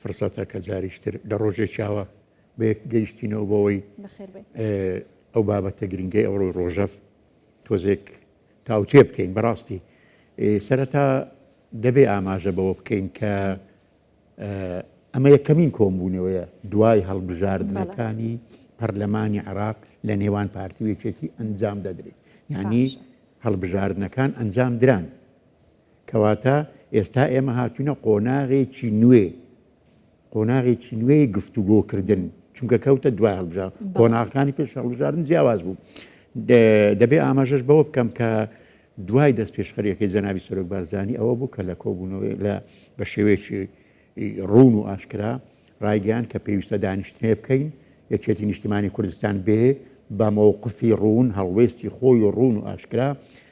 فرسەتە کە جاریش تر لە ڕۆژێکیاوە بەیەک گەیشتینەوە بۆەوەی ئەو بابەتە گرنگی ئەوڕۆی ڕۆژەف تۆزێک تاوتێ بکەین بەڕاستی سەرەتا دەبێ ئاماژە بەوە بکەین کە ئەمە یەکەمین کۆمبوونەوەیە دوای هەڵبژاردنەکانی پەرلەمانی عراق لە نێوان پارتی وێچێتی ئەنجام دەدرێت یعنی هەڵبژاردنەکان ئەنجام دران کەواتە ئێستا ئێمە هاتووینە قۆناغێکی نوێ، قۆناغێکی نوێی گفتوگۆ کردن، چونکە کەوتە دوای هەڵبژار، قۆناغەکانی پێش هەڵبژاردن جیاواز بوو. دەبێ ئاماژەش بەوە بکەم کە دوای دەستپێشخەرییەکەی جەنابی سەرۆک بارزانی ئەوە بوو کە لە کۆبوونەوەی لە بە شێوەیەکی ڕوون و ئاشکرا ڕایگەیان کە پێویستە دانیشتنێ بکەین یەکێتی نیشتمانی کوردستان بێ بە مەوقفی ڕوون هەڵوێستی خۆی و ڕوون و ئاشکرا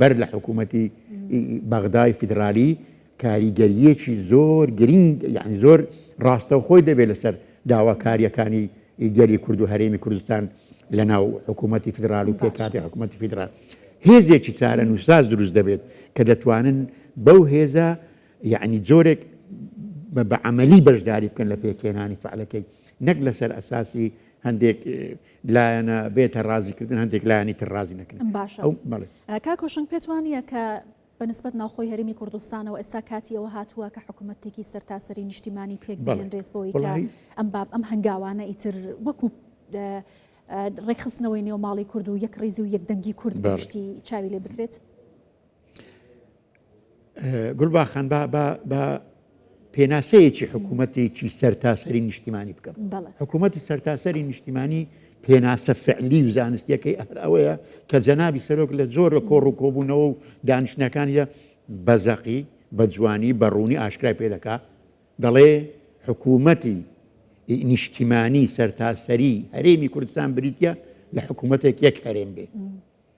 بەر لە حکوومەتی بەغدای فیدرالی کاریگەرییەکی زۆر گرینگ یانی زۆر ڕاستەوخۆی دەبێت لەسەر داواکارییەکانی گەلی کورد و هەرێمی کوردستان لە ناو حکوومەتی فیدرال و پێکاتی حکوومەتی فیدرال هێزێکی چارەنووساز دروست دەبێت کە دەتوانن بەو هێزە یعنی جۆرێک بە بە عملی بەشداری بکەن لە پێکهێنانی فعلەکەی نەک لەسەر ئەساسی هەندێک لایەنە بێتە ڕازی کردن هەندێک لایانی تر ڕازی نەکرێت باشە کاک هۆشنگ پێت وانە کە بە نسبەت ناوخۆی هەرمی کوردستانەوە ئێستا کاتی ئەوە هاتووە کە حکوومەتێکی سەرتاسەری نیشتیمانی پێک بڵێنرێت بۆی ئەم باب ئەم هەنگاوانە ئیتر وەکو ڕێکخستنەوەی نێو ماڵی کورد و یەک ڕیزی و یەکدەنگی کورد باشتی چاوی لێ بکرێت. گوڵباخان با پێناسەیەکی حکوومەتێکی سەرتاسەری نیشتیمانی بکەم حکوومەتی سەرتاسەری نیشتیمانی پێناسە فعلی و زانستیەکەی ئەهر ئەوەیە کە جەنابی سەرۆک لە زۆر لە کۆڕ و کۆبوونەوە و دانیشتنەکانە بەزەقی بە جوانی بە ڕوونی ئاشکرای پێ دەکا دەڵێ حکوومەتی نیشتیمانی سەرتاسەری هەرێمی کوردستان بریتە لە حکوومەتێک یەک هەرێم بێ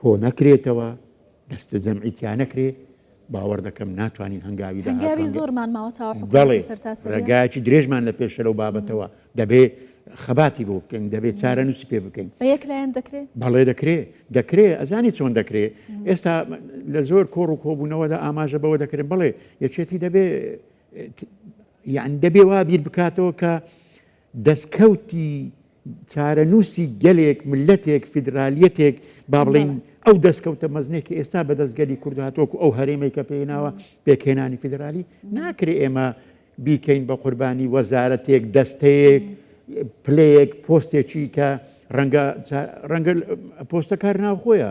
کۆنەکرێتەوە، دەستەجەمعی تیانەکرێ، باوەڕدەکەم ناتوانین هەنگاوی داهاتوومان بەڵێ ڕێگایەکی درێژمان لە پێشە لەو بابەتەوە، دەبێ خەباتی بۆ بکەین، دەبێ چارەنووسی پێ بکەین. بەڵێ دەکرێ، دەکرێ، ئەزانی چۆن دەکرێ؟ ئێستا لە زۆر کۆڕ و کۆبوونەوەدا ئاماژە بەوە دەکرێن، بەڵێ یەکێتی دەبێ یانی دەبێ وا بیر بکاتەوە کە، دەستکەوتی چارەنووسی گەلێک، میللەتێک، فیدرالیەتێک، با بڵێین ئەو دەستکەوتە مەزنەی کە ئێستا بەدەست گەلی کورد هات وەکو ئەو هەرێمەی کە پێی ناوە پێکهێنانی فیدرالی، ناکرێ ئێمە بیکەین بە قوربانی وەزارەتێک، دەستەیەک، پلەیەک، پۆستێکی کە ڕەنگە ڕەنگە پۆستە کار ناوخۆیە.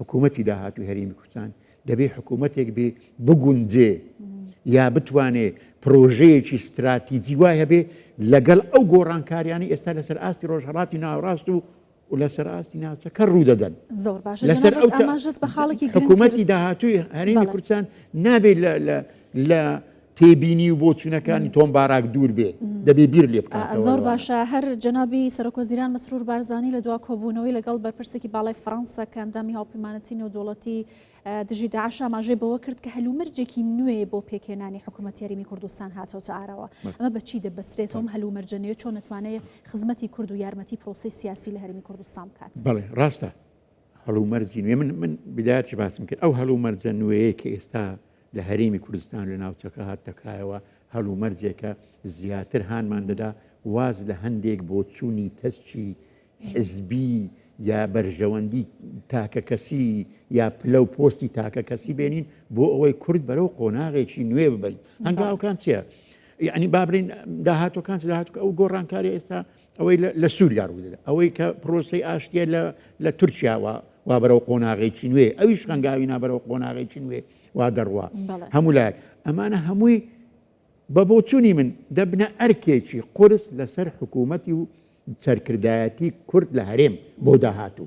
حکوومەتی داهاتووی هەرێمی کوردستان دەبێ حکوومەتێک بێ بگونجێ یا بتوانێ پرۆژەیەکی ستراتیجی وای هەبێ لەگەڵ ئەو گۆڕانکاریانی ئێستا لەسەر ئاستی ڕۆژهەڵاتی ناوڕاست و و لەسەر ئاستی ناوچەکە ڕوو دەدەن زۆر باشە لەسەر جەنابت ئەو تا- ئاماژەت بە خاڵێکی گرنگ حکوومەتی کرد. داهاتووی هەرێمی بەڵێ. کوردستان نابێت لە لە لە تێبینی و بۆچوونەکانی تۆم باراک دوور بێ دەبێ بیر لێ بکات زۆر باشە هەر جەنابی سەرۆکۆزیران مەسرور بارزانانی لە دوا کۆبوونەوەی لەگەڵ بەرپرسێکی باڵای فەرەنسا کە ئەندامی هاوپیمانەتی نێودوڵەتی دژی داعش ئاماژەی بەوە کرد کە هەلومەرجێکی نوێ بۆ پێکێنانی حکوومەت یاریمی کوردستان هاتەوەتە ئارەوە ئەمە بەچی دەبەسرێتەوەم هەلومەرجەنێ چۆن نتوانێت خزمەتی کورد و یارمەتی پرۆسی سیاسی لە هەرمی کوردستان بکات بڵێ ڕاستە هەڵومەرجی نوێ من من بداتی باسم کرد ئەو هەڵومەرجە نوێیە کە ئێستا لە هەرێمی کوردستان لە ناوچەکە هات دەکایەوە هەڵومەرجێکە زیاتر هانمان دەدا واز لە هەندێک بۆچوونی تەسچی حزبی یا بەرژەوەندی تاکە کەسی یا پلە و پۆستی تاکە کەسی بێنین بۆ ئەوەی کورد بەرەو قۆناغێکی نوێ ببین هەنگاوکان چیە؟ یعنی بابرین داهاتەکان داهات ئەو گۆڕانکاری ئێستا ئەوەی لە سوریا ڕوودەدا، ئەوەی کە پرۆسەی ئاشتیە لە تورکیا وا بەرەو قۆناغێکی نوێ، ئەویش هەنگاوی نا بەرەو قۆناغێکی نوێ وا دەڕوا هەموو لایەک ئەمانە هەمووی بە بۆچوونی من دەبنە ئەرکێکی قورس لەسەر حکوومەتی و سەرکردایەتی کورد لە هەرێم بۆ داهاتوو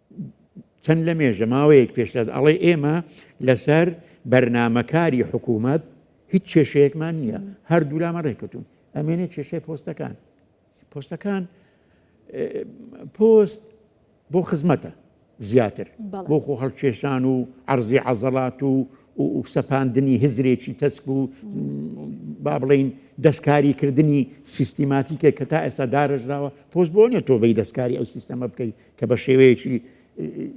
چەند لەمێژە ماوەیەک پێشتر ئەڵێ ئێمە لەسەر بەرنامەکاری حکوومەت هیچ کێشەیەکمان نییە هەر دوولامان ڕێککەوتون ئەمێنێ کێشەی پۆستەکان پۆستەکان پۆست بۆ خزمەتە زیاتر بۆ خۆ هەڵکێشان و ئەرزی عەزەڵات و و سەپاندنی هزرێکی تەسک و با بڵین دەستکاری کردنی سیستیماتیکە کە تا ئێستا دارژراوە پۆست بۆ نیە تۆ بەی دەستکاری ئەو سیستەمە بکەیت کە بە شێوەیەکی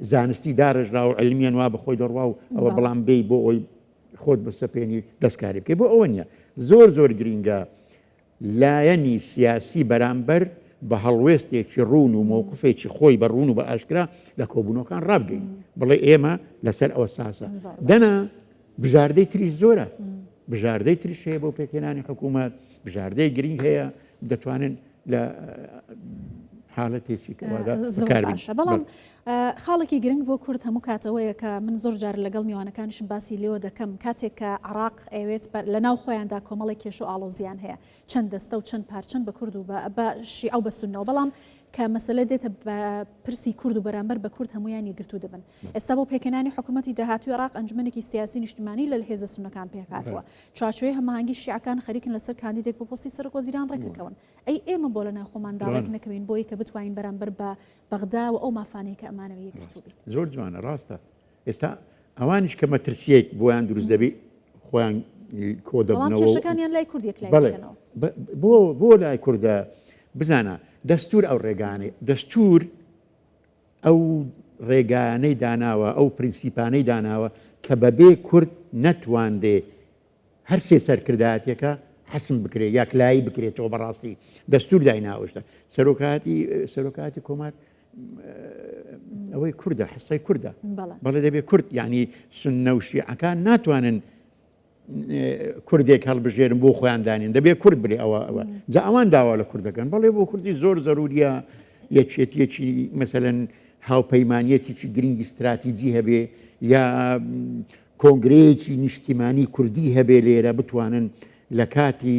زانستی دارێژراو و عیلمییەن وا بە خۆی دەڕوا و ئەوە بەڵام. بەڵام بێی بۆ ئەوی خۆت بسەپێنی دەستکاری بکەی بۆ ئەوە نییە. زۆر زۆر گرینگە لایەنی سیاسی بەرامبەر بە هەڵوێستێکی ڕوون و مەوقفێکی خۆی بە ڕوون و بە ئاشکرا لە کۆبوونەوەکان ڕابگەینی بڵێ ئێمە لەسەر ئەوە سازە. دەنا. بژاردەی تریش زۆرە بژاردەی تریش هەیە بۆ پێکهێنانی حکوومەت بژاردەی گرنگ هەیە دەتوانن لە حالەتێکی باشە بەڵام خاڵێکی گرنگ بۆ کورد هەموو کاتەوەیە کە من زۆر جار لەگەڵ میوانەکانیشم باسی لێوە دەکەم کاتێک کە عراق ئەوێت لە ناو خۆیاندا کۆمەڵی کێش و ئاڵۆزیان هەیە چەند دەستە و چەند پارچەند بە کورد و بە شیعە و بەسونەوە بەڵام کە مەسلە دێتە پرسی کورد و بەرامبەر بە کورد هەمویان یەگرتو دەبن ئێستا بۆ پێکهێنانی حکومەتی داهاتووی عێراق ئەنجومەنێکی سیاسی نیشتمانی لەل هێزە سونەکان پێکهاتووە چوارچێوەی هەماهەنگی شیعەکان خەریکن لەسەر کاندیدێک بۆ پۆستی سەرۆک وەزیران ڕێکەکەون ئەی ئێمە بۆ لەناو خۆماندا ڕێک نەکەوین بۆی کە بتوانین بەرامبەر بە بەغدا و ئەو مافانەی کە ئەمانەوە یەکگرتووبین زۆر جوانە ڕاستە ئێستا ئەوانیش کە مەترسیەک بۆیان دروست دەبی خۆیان کۆدەبنەوەشەکانیان لای کورد بۆ لای کوردە بزانە دەستور ئەو ڕێگانەی دەستور ئەو ڕێگایانەی داناوە، ئەو پرنسیپانەی داناوە کە بەبێ کورد نەتوانرێ هەر سێ سەرکردایەتیەکە حەسم بکرێ، یاکلایی بکرێتەوە بەڕاستی. دەستور دایناوە شتە. سەرۆکایەتی سەرۆکایەتی کۆمار ئەوەی کوردە حسەی کوردە بەڵێ دەبێ کورد یعنی سنە و شیعەکان ناتوانن کوردێک هەڵبژێرن بۆ خۆیان دانین دەبێ کورد بێ ئەوە ئەوە جا ئەوان داوا لە کورد دەکەن بەڵێ بۆ کوردی زۆر زەروریە یەکێتیەکی مەسەەن هاوپەیمانەتێکی گرنگی استراتیجی هەبێ یا کۆنگرەیەکی نیشتیمانی کوردی هەبێ لێرە بتوانن لە کاتی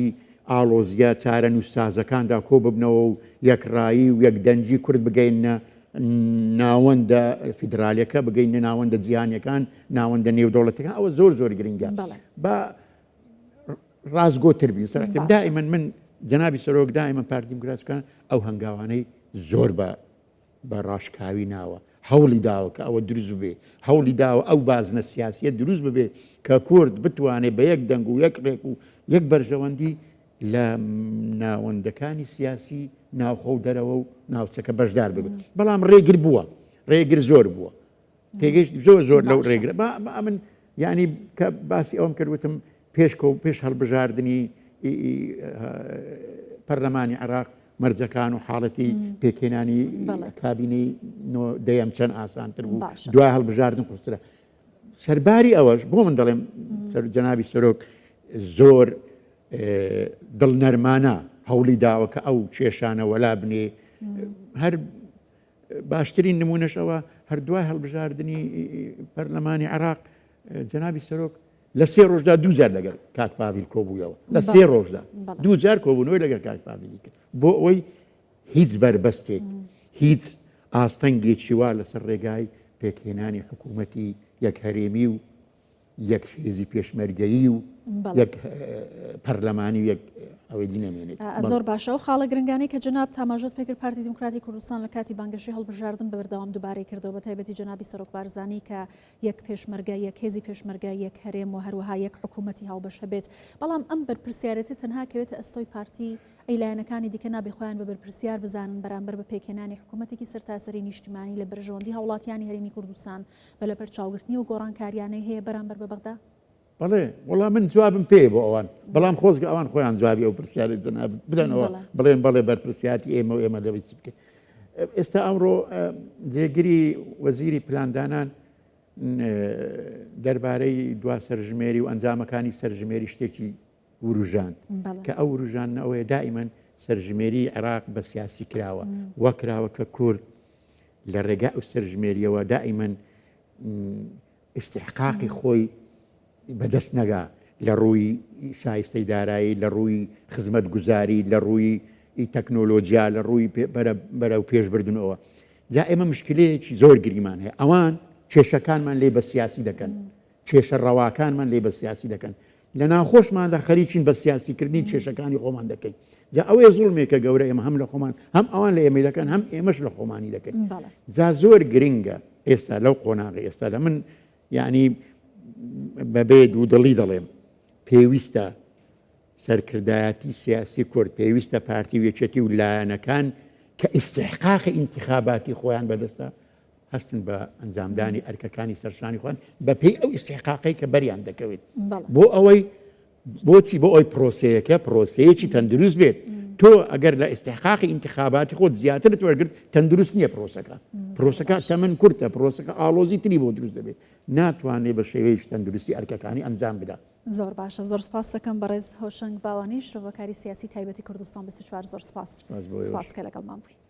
ئاڵۆزیە چارە نووسازەکاندا کۆ ببنەوە و یەکڕایی و یەک دەنجی کورد بگەینە ناوەندە فیدرالیەکە بگەینە ناوەندە جیهانیەکان ناوەندە نێودەوڵەتەکان ئەوە زۆر زۆر گرنگە بە ڕاستگۆتر بین سەرکرد دای من من جنابی سەرۆک دای من پارتی دیموکراتەکان ئەو هەنگاوانەی زۆر بە بە ڕاشکاوی ناوە هەوڵی داوە کە ئەوە دروست بێ هەوڵی داوە ئەو بازنە سیاسیە دروست ببێ کە کورد بتوانێت بە یەک دەنگ و یەک ڕێک و یەک بەرژەوەندی لە ناوەندەکانی سیاسی ناوخۆ و دەرەوە و ناوچەکە بەشدار ببن بەڵام ڕێگر بووە ڕێگر زۆر بووە تێگەشت زۆر زۆر لەو ڕێگرە با ئەمن ینی کە باسی ئەوم کردوتم پێشکە و پێش هەڵبژاردننی پەرلەمانی عراق مەرجەکان و حاڵەتی پێکێنانی کابینەی دەیەم چەند ئاسانتر بوو دوای هەڵبژاردن قوترە سەرباری ئەوەش بۆ من دەڵێم جەنابی سەرۆک زۆر دڵنەرمانە هەوڵی داوە کە ئەو کێشانە وەلا بنێ هەر باشترین نمونەش ئەوە هەردوای هەڵبژاردننی پەرلەمانی عراق جەنابی سەرۆک لە سێ ڕۆژدا دووجار لەگەر کاک پاڤیل کۆبوویەوە لە سێ ڕۆژدا دووجار کۆبوونەوەی لەگەر کاک پاڤیلی کرد بۆ ئەوەی هیچ بەربەستێک، هیچ ئاستەنگێکی وا لەسەر ڕێگای پێکهێنانی حکوومەتی یەک هەرێمی و یەک هێزی پێشمەرگەیی و یەک پەرلەمانی و یەک ئەوەی دی نەمێنێت زۆر باشە و خاڵە گرنگانەی کە جناب تاماژت پێگر پارتی دیموکراتی کوردستان لە کاتی بانگەشی هەڵبژاردن بەردەوام دوبارەی کردەوە بە تایبەتی جنابی سەرۆک بارزانانی کە یەک پێشمەرگە یەک هێزی پێشمەرگە یەک هەرێم و هەروەها یەک حکوومەتی هاوبەش هەبێت بەڵام ئەم بەرپرسیارەتی تەنها کەوێتە ئەستۆی پارتی ئەی لایەنەکانی دیکە نابێ خۆیان بە بەرپرسیار بزانن بەرامبەر بە پێکهێنانی حکوومەتێکی سەرتاسەریی نیشتیمانی لە بەرژەوەندی هاوڵاتیانی هەرێمی کوردستان بە لەبەرچاوگرتنی ئەو گۆڕانکارییانەی هەیە بەرامبەر بە بەغدا؟ بەڵێ، وەڵا من جوابم پێیە بۆ ئەوان، بەڵام خۆزگە ئەوان خۆیان جوابی ئەو پرسیارەی جەنابت بدەنەوە، بڵێن بەڵێ بەرپرسیاتی ئێمە و ئێمە دەبێت چی بکەین. ئێستا ئەمڕۆ جێگری وەزیری پلاندانان دەربارەی دوا سەرژمێری و ئەنجامەکانی سەرژمێری شتێکی وروژاند کە ئەو وروژاندنەوەیە دائیمەن سەرژمێری عێراق بە سیاسی کراوە وا کراوە کە کورد لە ڕێگای ئەو سەرژمێریەوە دائیمەن ئیسیحقاقی خۆی بەدەست نەگا لە ڕووی شایستەی دارایی لە ڕووی خزمەت گوزاری لە ڕووی ئی تەکنۆلۆجیا لە ڕووی بەرە و پێشبردنەوە جا ئێمە مشکلەیەکی زۆر گریمان هەیە ئەوان کێشەکانمان لێ بە سیاسی دەکەن کێشە ڕەواکانمان لێ بەرسیاسی دەکەن لە ناوخۆشماندا خەریکین بەرسیاسی کردنی کێشەکانی خۆمان دەکەین جا ئەوەیە زوڵمێکە گەورە ئێمە هەم لە خۆمان هەم ئەوان لە ئێمە دەکەن هەم ئێمەش لە خۆمانی دەکەین جا زۆر گرنگە ئێستا لەو قۆناغی ئێستا لە من یعنی بەبێ دوو دڵی دەڵێم پێویستە سەرکردایەتی سیاسی کورد پێویستە پارتی وێچێتی و لایەنەکان کە ئیسحقاقی ئینتخاباتی خۆیان بەدەستە هەستن بە ئەنجامدانی ئەرکەکانی سەرشانی خۆیان بە پێی ئەو ئیستحقاقەی کە بەریان دەکەوێت بۆ ئەوەی بۆچی بۆ ئەوی پرۆسەیەکە پرۆسەیەکی تەندروست بێت تۆ ئەگەر لە ئیسحقاقی ئینتخاباتی خۆت زیاتر توەرگرت تەندروست نییە پرۆسەکە پرۆسەکە تەمن کورتە پرۆسەکە ئاڵۆزی تری بۆ دروست دەبێت ناتوانێت بە شێوەیەش تەندروستی ئەرکەکانی ئەنجام بدا زۆر باشە زۆر سپاس دەکەم بەڕێز هۆشنگ باوانی شرۆڤەکاری سیاسی تایبەتی کوردستان 24 زۆر سپاس سپاس کە لەگەڵمان بووی